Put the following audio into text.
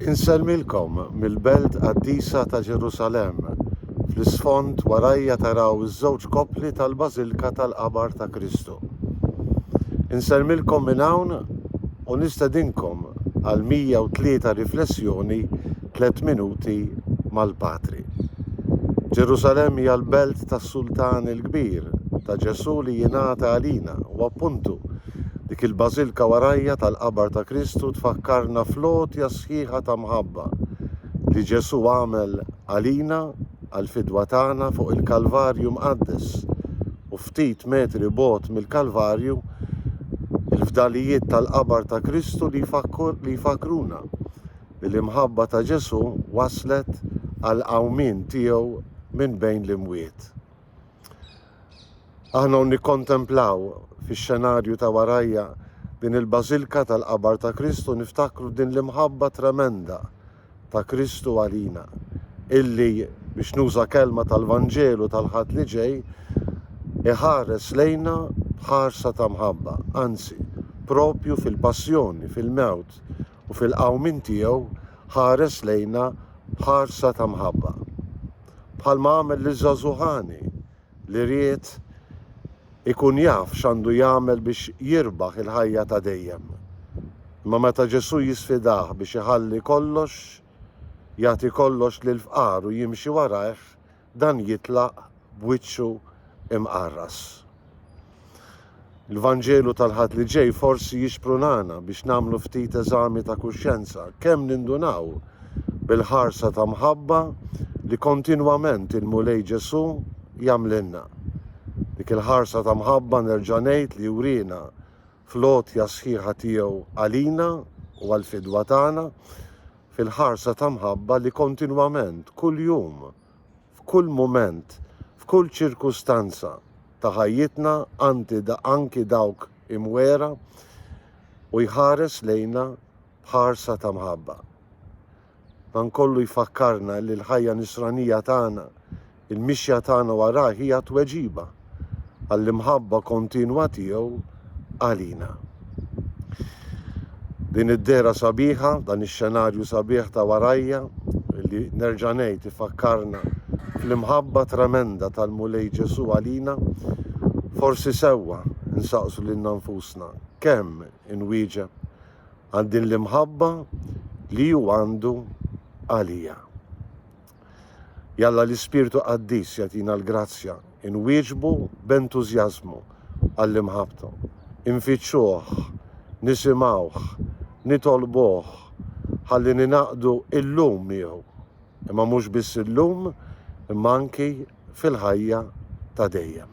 Insellmilkom mill-belt qaddisa ta' Ġerusalemm. Fl-isfond warajja taraw iż-żewġ koppli tal-Bażilka tal-Qabar ta' Kristu. Insellmilkom minn hawn u nistedinkom għal 103 riflessjoni tliet minuti mal-Patri. Ġerusalemm hija l-belt tas-Sultan il-Kbir, ta' Ġesù li jingħata għalina u appuntu Dik il-bażilka warajja tal-qabar ta' Kristu tfakkarna fl-għotja sħiħa ta' mħabba li Ġesù għamel għalina għall-fidwa tagħna fuq il-Kalvarju Mqaddes u ftit metri bogħod mill-Kalvarju il-fdalijiet tal-qabar ta' Kristu li jfakkruna li l-imħabba ta' Ġesù wasslet għall-qawmien tiegħu minn bejn l-imwiet. Aħna u nikkontemplaw fix-xenarju ta' warajja din il-bażilka tal-qabar ta' Kristu niftakru din l-imħabba tremenda ta' Kristu għalina illi, biex nuża kelma tal-Vanġelu tal-Ħadd li ġej, iħares lejna b'ħarsa ta' mħabba, anzi, propju fil-passjoni, fil-mewt u fil-qawmien tiegħu ħares lejna b'ħarsa ta' mħabba. Bħalma għamel liż-żagħżugħ għani li ried ikun jaf x'għandu jagħmel biex jirbaħ il-ħajja ta' dejjem. Imma meta Ġesù jisfidah biex iħalli kollox, jagħti kollox lill-fqar u jimxi warajh, dan jitlaq b'wiċċu mqarras. Il-Vanġelu tal-Ħadd li ġej forsi jixprunana biex nagħmlu ftit eżami ta' kuxjenza, kemm nindunaw bil-ħarsa ta' mħabba li kontinwament il-Mulej Ġesù jagħmlilna. Dik il-ħarsa ta' mħabba nerġa' ngħid li jurina fl-għotja sħiħa tiegħu għalina u għall-fidwa tagħna, fil-ħarsa ta' mħabba li kontinwament, kuljum, f'kull mument, f'kull ċirkustanza ta' ħajjitna anti anki dawk imwera, u jħares lejna b'ħarsa ta' mħabba. Dan kollu jfakkarna li l-ħajja nisranija tagħna, il-mixja tagħna warajh hija tweġiba għall-imħabba kontinwa tiegħu għalina. Din id-dehra sabiħa, dan ix-xenarju sabiħ ta' warajja, li nerġa' ngħid ifakkarna fl-imħabba tremenda tal-Mulej Ġesù għalina, forsi sewwa nsaqsu lilna nfusna kemm inwieġeb għal din l-imħabba li hu għandu għalija. Jalla l-Ispirtu Qaddis jagħtina l-grazzja inwieġbu b'entużjażmu għall-imħabbtu, infittxuh, nisimgħuh, nitolbuh ħalli ningħaqdu illum miegħu, imma mhux biss illum imma anki fil-ħajja ta' dejjem.